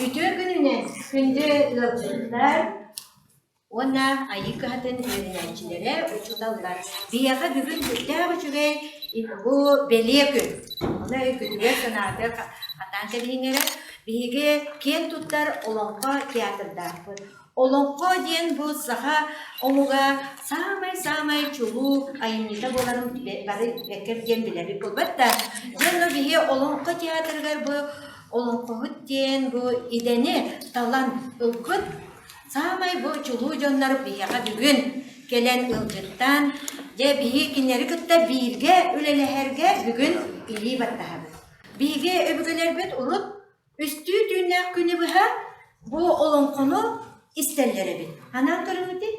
Үтүө күнүнэн күндү ыалдьыттар уонна Айыы кыһатын үөрэнээччилэрэ, учууталлар! Биһиэхэ бүгүн сүрдээх үчүгэй бу бэлиэ күн. Ону өйгүтүгэр санаатык хатаан кэбиһиҥ эрэ. Биһиги киэн туттар Олоҥхо театрдаахпыт. Олоҥхо диэн бу саха омуга саамай-саамай чулуу айымньыта буоларын билэ- бары бэккэр диэн билэбит буолбат да, дьэ онно биһи Олоҥхо театрыгар бу олоҥхоһут диэн бу идэни, талан ылбыт саамай бу чулуу дьоннор биһиэхэ бүгүн кэлэн ылгыттаан, дьэ биһи кинилэри кытта бииргэ үлэлэһэргэ бүгүн илии баттаһабыт. Биһиги өбүгэлэрбит урут Үстүү түүннээх күнү быһа бу олоҥхону истэллэр эбит. Анаан көрүҥүтүй?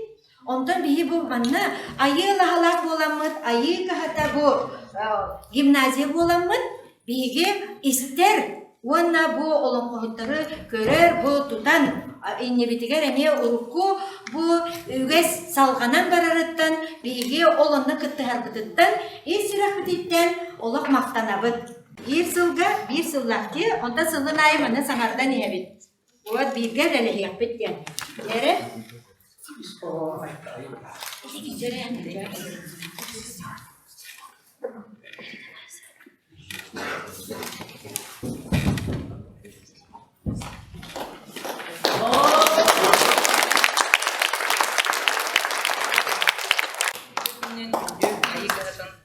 Онтон биһи бу манна айыы лаһалаах буоламмыт, айыы каһата бу э, гимназия буоламмыт, биһиги истэр уонна бу олоҥхоһуттары көрөр, бу тутан а, иннибитигэр эмиэ урукку бу үгэс салҕанан барарыттан, биһиги ол онно кыттыһарбытыттан, ис сүрэхпититтэн олох махтанабыт. Биир сылга биир сыллаахтыы, онтон сылгын аайы манна саҥардан иһэбит. Уот бииргэ үлэлэһиэхпит диэн. Эрэ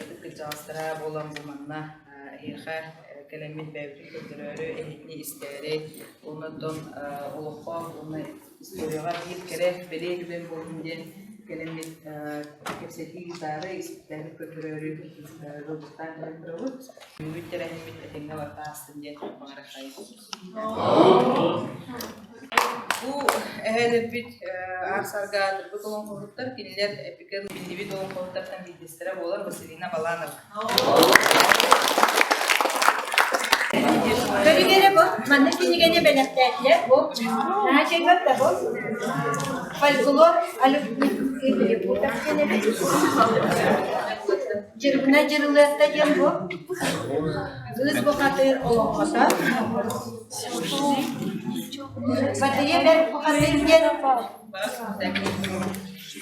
Ытык кырдьаҕастара буолан бу манна эһиэхэ кэлэммит бэйэбитин көрдөрөөрү эһигини истээри уонна оттон олоххо уонна историяҕа биир кэрэ бэлиэ түгэн буоллун диэн кэлэммит кэпсэтии гитаары испиктээри көрдөрөөрү дылгыстаан көрдөрөбүт. Бүгүн тэрээһиммит этэҥҥэ барыта астын диэн баҕарахтайбыт. Бу эһээлэрбит аарсаргаан урбут олоҥхоһуттар, кинилэр эпикэн биллибит олоҥхоһуттартан биирдэстэрэ буолар Василина Баланова. Көбүгэрэ бо, манна кинигэни бэлэхтээтилэр бо, наадьыгар да бо, фольклор алюбтик Дьирбинэ Дьырылыатта диэн бу кыыс бухатыыр олоҥхото Батыйа бэрт бухатыыр диэн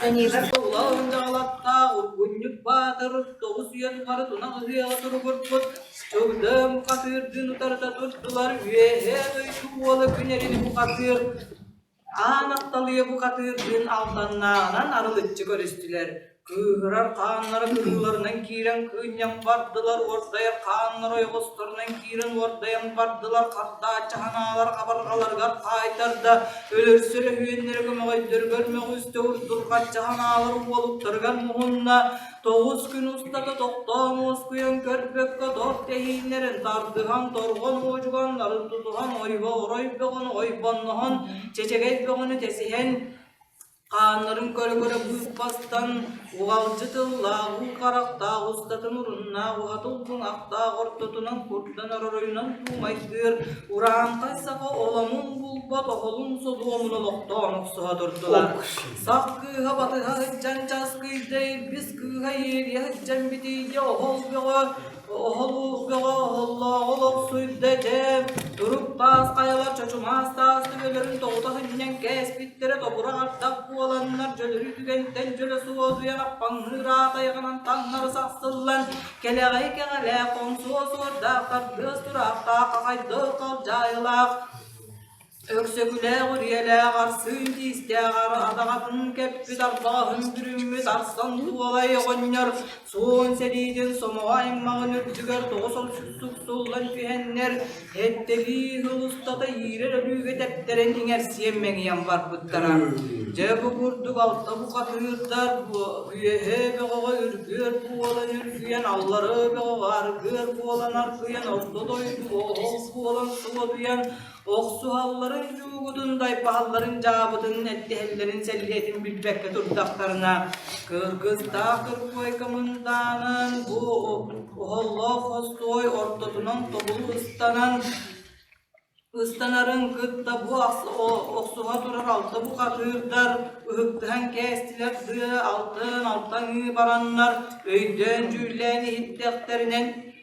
Дьаниба Тула Онжаалаттаах Ургунньук Баатыр тоҕус үйэ тухары тунах ыһыаҕа туругурбут Чөгдөөн бухатыырдыын утарыта турдулар Үөһээ дойду уола күнэрин бухатыыр Аан Атталыйа бухатыырдыын алданнааҕынан арылыччы көрүстүлэр, кыыһырар хааннара кыһыыларынан киирэн кыынньан бардылар, уордайар хааннара ойоҕосторунан киирэн уордайан бардылар, хардааччы санаалар абарҕаларыгар хаайтарда, өлөрсөр өһүөннэрэ көмөҕөйдөрүгэр мөҕүстэ, урдурҕаччы санаалар уолуктарыгар муһунна, Тоҕус күн устата тохтоон уоскуйан көрбөккө тор тэһииннэрин тардыһан, торҕон уодьуганнарын тутуһан, ойбоҕор бөҕөнү ойбонноһон, чэчэгэй бөҕөнү тесиһэн, хааннарын көрө-көрө быып бастан, уҕалдьы тыллаах уу харахтаах устатын уруннаах уһата улбуҥахтаах ортотунан курдан оройунан туумайгыыр урааҥхай саха оломун булбат оһолун содуомун олохтоон охсуһа турдулар. Сах кыыһа батыһа сыдьан часкый дэйбис кыыһа иэриэ сыдьан битийгэ оһол бөҕө оһолуух бөҕө оһоллооҕу лопсуйда дьээм турук таас хайалар чочумаас таас түгэлэрин тоҕута сынньан кээспиттэрэ тобура ардах буоланнар дьөлөрү түгэнтэн дьөлө суодуйа аппаҥныыр аатайҕынан таҥнары сахсыллан кэлэҕэй кэҕэлээх хоҥсуо суордаах тардыас тураахтаах хахайдыах халдьаайылаах Өксөкүлээх үрүйэлээх арсыы тиистээх араатаҕатын кэппит арбаҕаһын бүрүммүт арсан туолай оҕонньор суон сэриитин сомоҕо аймаҕын үрдүгэр тоҕус омсун суксуллан түһэннэр эттэлии сыл устата иирэр өлүүгэ тэптэрэн иҥэрсиэн мэҥийэн барбыттара. Дьэ бу курдук алта букатыырдар үөһэ бөҕөҕө үргүөр буолан үргүйэн аллары бөҕөҕө аргыар буолан аргыйан орто дойду ол буолан суотуйан охсуһалларын, дьуугутун, дайбаһалларын, дьаабытын, эттэһэллэрин сэллиэтин билбэккэ турдахтарына, кыргыстаах кыркуойка мындаанан бу оһоллоох хостуой ортотунан тобулу ыстанан ыстанарын кытта бу охсуһа турар алта бухатыырдар ыһыктыһан кээстилэр дыы алтын алтан ыы бараннар өйдөөн дьүүллээн иһиттэхтэринэн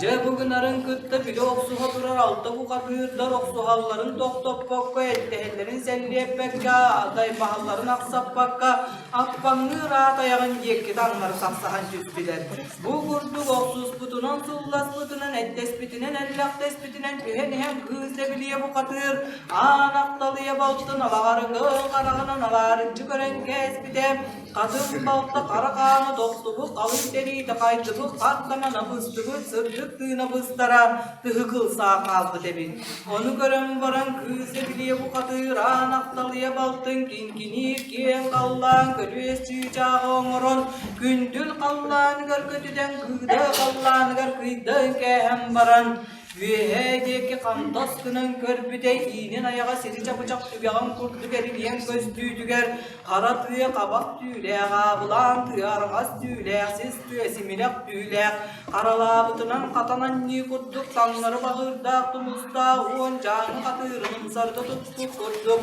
Дьэ бу гынарын кытта били охсуһа турар алта бухатыырдар охсуһалларын тохтоппокко, эттэһэллэрин сэллиэппэккэ, тайбаһалларын ахсаппакка аппаҥныыр аат айаҕын диэкки таҥнары тахсаһан түспүтэр. Бу курдук охсуспутунан, сылласпытынан, эттэспитинэн, эллэхтэспитинэн түһэн-иһэн кыыс дэбилийэ бухатыыр аан апталыйа балтын алаҕары кыл хараҕынан алаарыччы көрөн кээспитэ, Атын балта хара хааны тохтубут, алын тэриитэ хайдыбыт, ат гына набыстыбыт, сырдык тыына быстара тыһыкыл саа хаалбыт эбит. Ону көрөн баран кыыс эбилиэ бухатыыраан ахталыйа балтын кинкиниир киэн халлаан көлүөс чыычааҕы оҥорон күндүл халлааныгар көтүтэн кыыда халлааныгар кыйдан кээһэн баран Үөһээ диэки хантас гынан көрбүтэ иинин айаҕа сири чапычах түгэҕин курдук эргийэн көстүүтүгэр Хара тыа хабах түүлээх, аабылаан тыа арҕас түүлээх, сис тыа симирэх түүлээх, харалаабытынан хатан анньыы курдук таҥнары баҕыырдаах тумустаах уон чааҥы хатыырын ымсарга туппут курдук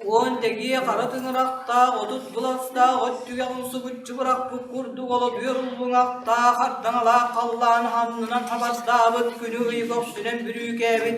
уон тэгиэ хара тыҥырахтаах, отут быластаах от түгэх умсубуччу бырахпыт курдук олодүөр улбуҥахтаах, хардаҥалаах халлаан аннынан хабардаабыт күнү ый көхсүнэн бүрүүкээбит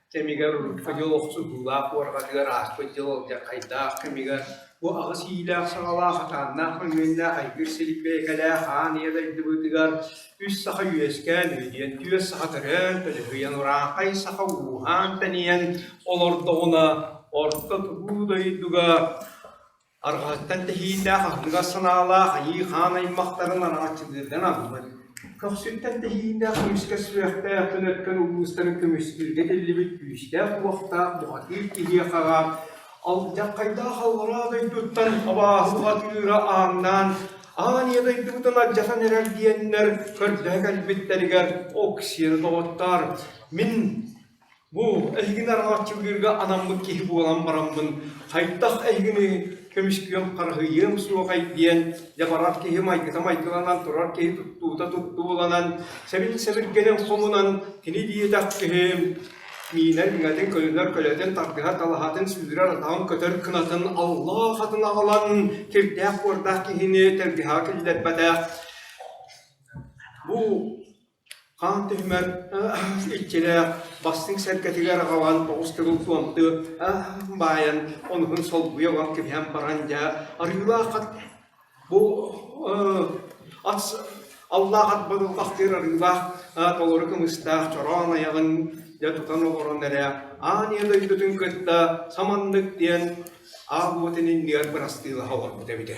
кэмигэр урукку дьыл охсуһуулаах буорҕатыгар ааспыт дьыл дьахайдаах кэмигэр бу аҕыс иилээх саҕалаах атааннаах хойуөннаах айгыр силиппиэкэлээх аан ийэ дойдубутугар үс саха үөскээн үһүйэн түөрт саха төрөөн төлөһүйэн ураахай саха ууһаан тэнийэн олордоҕуна орто тутуу дойдуга Арҕаһыттан тэһиилээх аһыныгас санаалаах айыы хаан аймахтарын араҥаччылыырдан аһыммыт, көхсүттэн тэһиилээх күүскэ сүрэхтээх төлөткөн улуустарын көмүскүүргэ тиллибит күүстээх-уохтаах бухатыыр киһи хараат алдьархайдаах аллараа дойдуттан абааһылатыыра ааҥнаан аан ийэ дойдубутун алдьатан эрэр диэннэр көрдөһө кэлбиттэригэр ок сиэнэ доҕоттоор мин Бу эһигини арҕааччылыырга анаммыт киһи буолан бараммын, хайдах эһигини көмүскүөм, харыһыйыам суоҕай диэн дьабарар киһи майгыта-майгыланан турар киһи туттуута-туттуу буланан, сэбин-сэбиргэнэн хомунан, кини диэтэхпиһим, миинэн иҥэтин көлүнэр көлөтүн тардыһа-талаһатын сүүрэр атаҕын көтөр кынатын аллаах атын аҕалан кирдээх-буордаах киһини тардыһа киллэрбэтэх. Бу Хаан түһүмэр иччилээх бастыҥ сэргэтигэр аҕабаан оҕус кыгыл куомту баайан онуһун солбуйа олор кэбиһэн баран дьэ арыылаах ат бу ат аллаах ат быдылҕахтыыр арыылаах толору кымыстаах чороон айаҕын дьэ тутан олорон эрэ аан ийэ дойдутун кытта саманнык диэн аал уотун иннигэр бырастыылаһа олорбута эбитэ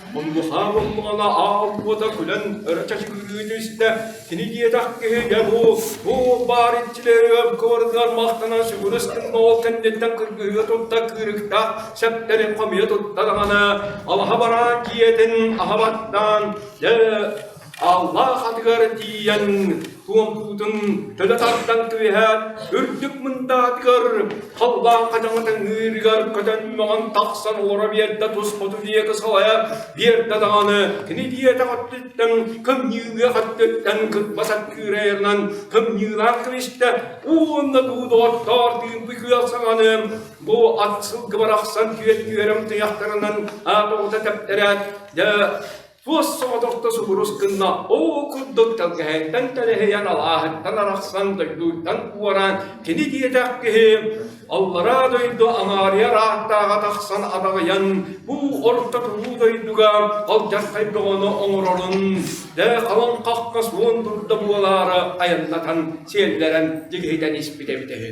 Мунгуса муллугана аалбыта күлэн өрө чачкыытын истэ, кини диэтэх киһи дьэ бу, бу баар иччилэригэр кыбарытыгар махтанан сүгүрүстүн ол кэнниттэн кыргыһыы тутта кыырыктаах сэптэри хомуйа тутта даҕаны, алаһа бараан дьиэтин аһа баттаан, дьэ Аллах атыгар тиийэн туомпутун төлө тардан түһээт, үрдүк мындаатыгар халлаан хадаҥатын ыырыгар көтөн маҕан тахсан олоро биэрдэ туспуту диэки салайа биэрдэ даҕаны кини диэтэх өттүттэн кымньыыга өттүттэн кытба саккыыра айарынан кымньыылаах кэбистэ уонна дуудооттоор диирби кыах саҥаны бу ат сылгы барахсан түөт түөрөм туйахтарынан аатоҕута тэптэрээт дэ Туос соҕотохто субурус гынна оо курдук тэлгэһэттэн тэлэһийэн алааһыттан арахсан дойдуйтан уораан кини диэтэх киһи аллараа дойду аҥаарыйар ааттааҕа тахсан адаҕыйан бу орто тулуу дойдуга алдьархай бөҕөнү оҥорорун дэ халаҥ хахха суон турда буолаары айаннатан сиэллэрэн дигиһитэн испит эбитэ үһү.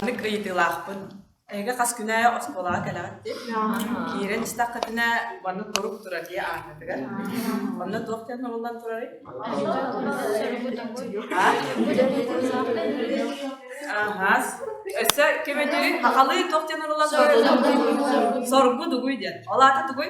Аны кыйытыылаахпын. Эһиги хас күнэ оскуолаҕа кэлэҕит диye киирэн истэххитинэ манна турук турар дии ааҥҥытыгар. Онно туох диэн суруллан турарый? Аһаас. Өссө ким үтүүй? Хахалыы туох диэн суруллан турарый? Соргу дугуй диэн. Ол аата тугуй?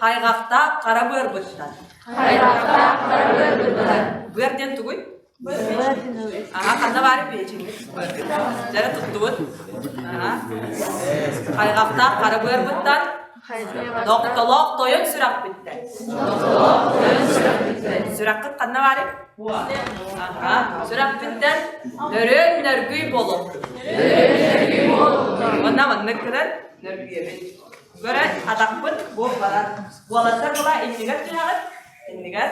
Хайҕахтаах хара быарбыттар. Хайҕахтаах хара быарбыттар. Быар диэн тугуй? Аһа, ханна баарын билэчиҥҥит? Дьара туттубут. Хайҕахтаах хара быарбыттар. Тохтолоох тойон сүрэхпиттэр. Сүрэххит ханна баарын? Сүрэхпиттэн нөрөөн нөргүй болот. Онна маннык кыран нөргүйэбит. Көрөн атахпыт буох барар. Уолаттар була иннигэр түһэҕит, иннигэр,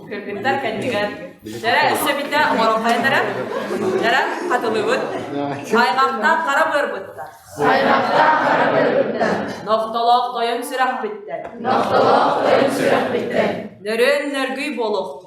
кыргыттар кэннигэр. Дэрэ өссө биттэ оҥороххайдара, дэрэ хатылыбыт. Аймахтаах хара быарбыттар. Аймахтаах хара быарбыттар. Нохтолоох тойон сүрэхпиттэн. Нохтолоох тойон сүрэхпиттэн. Нөрөөн нөргүй болуохту.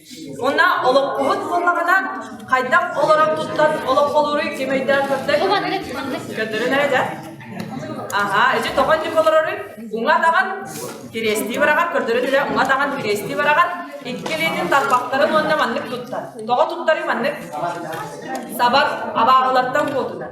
Уонна олоппоһут буоллаҕына, хайдах олорон тустан олопполууруй ким өйдөөх көрдөй? Бу маннык маннык. Көрдөрөн эрэ да. Аха, ити тоҕо итик олороруй? Уҥа атаҕын кириэстии бараҕар көрдөрөн үлэ уҥа атаҕын кириэстии бараҕар иккилиитин тарбахтарын уонна маннык туттар. Тоҕо туттарый маннык? Сабар абааһылартан куотунар.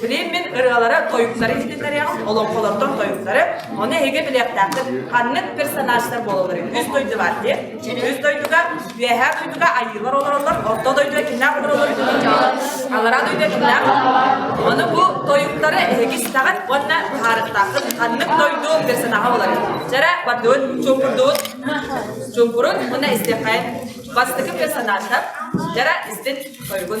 Фрейммин ырыалара тойуктары издэтэрэ, олоҥхолортон тойуктары, ону эһиги билиэхтээхтэр ханнык персонажтар буолалларын үс дойду баар дии. Үс дойдуга, үөһээ дойдуга айыылар олороллор, орто дойдуга кимнээх олороллор алараа дойдуга кимнээх. Ону бу тойуктары эһиги истэҕин уонна быһаарыктааххын ханнык дойду персонажа боларын. Жара бардыгын чуумпурдугун чуумпурун уна истэхэйн бастакы персонажтар жара истин тойугун.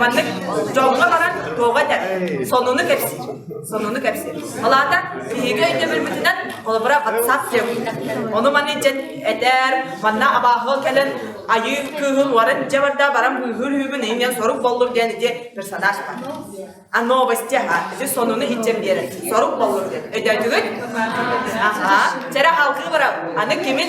Маннык дьоҥҥо баран туоҕа этэр, сонуну кэпсиир. Сонуну кэпсиир. Ол аата биһиги өйдөбүлбүтүнэн холобура ватсаппиа Ону манна дьэн этэр, манна абааһыгал кэлэн айыы кыыһын уоран дьэ барда баран быыһыр үһүбүн иҥэн сорук боллур диэн ити персонаж бар. А новости аха, ити сонуну хиччэн биэрэр. Сорук боллур диэн. Өйдөйдүгүт? Аха. Чэрэ халкы бара, аны кимин